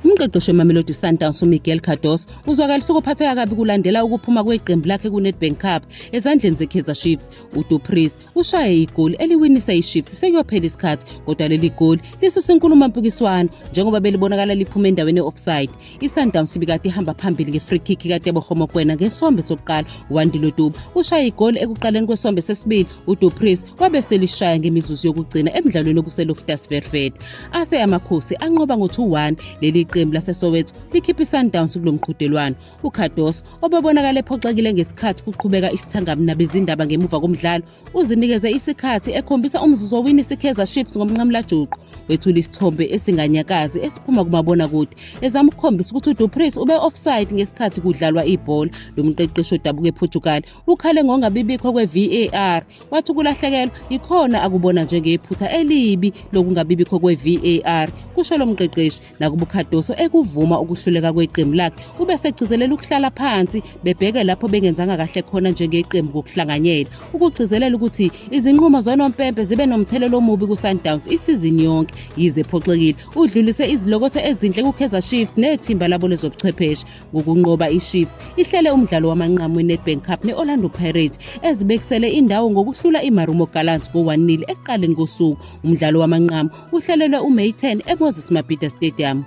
Umqeqeshi weMamelodi Sundowns uMiguel Cardoso uzwakalise ukuphatheka kabi kulandela ukuphuma kweqembu lakhe kuNedbank Cup ezandleni zeKaizer Chiefs. UDupris ushaye igoli eliwinisa iChiefs sekuyophela isikhathi kodwa leli goli lisusa inkulumo mpikiswano njengoba belibonakala liphuma endaweni e-offside. ISundowns ibikade ihamba phambili nge-free kick kaTebogo Mokoena ngesombe sokuqala. UWandile Duba ushaye igoli ekuqaleni kwesombe sesibili uDupris wabe selishaya ngemizuzu yokugcina emdlalweni obuseLoftus Vervet. Ase amakhosi anqoba ngo-2-1 leli qembu laseSoweto likhipha iSundowns kulo mqhudelwano. UCardos obebonakala ephoxekile ngesikhathi kuqhubeka isithangamu nabezindaba ngemuva komdlalo uzinikeze isikhathi ekhombisa umzuzu owini iSikheza Chiefs ngomnqamulajuqu wethula isithombe esinganyakazi esiphuma kumabonakude ezama ukukhombisa ukuthi uDupris ube-offside ngesikhathi kudlalwa ibhola lo mqeqeshi odabuka ePortugal ukhale ngongabibikho kwe-VAR wathi ukulahlekelwa yikhona akubona njengephutha elibi lokungabibikho kwe-VAR kusho lo mqeqeshi nakuba uCardoso ekuvuma ukuhluleka kweqembu lakhe ube segcizelela ukuhlala phansi bebheke lapho bengenzanga kahle khona njengeqembu kokuhlanganyela ukugcizelela ukuthi izinqumo zonompempe zibe nomthelela omubi kuSundowns isizini yonke yize ephoxekile udlulise izilokotho ezinhle kuKaizer Chiefs nethimba labo lezobuchwepheshe ngokunqoba iChiefs ihlele umdlalo wamanqamu weNedbank Cup ne-Orlando Pirates ezibekisele indawo ngokuhlula iMarumo Gallants ngo-1-0 ekuqaleni kosuku. Umdlalo wamanqamu uhlelelwe uMay 10 eMoses Mabhida Stadium.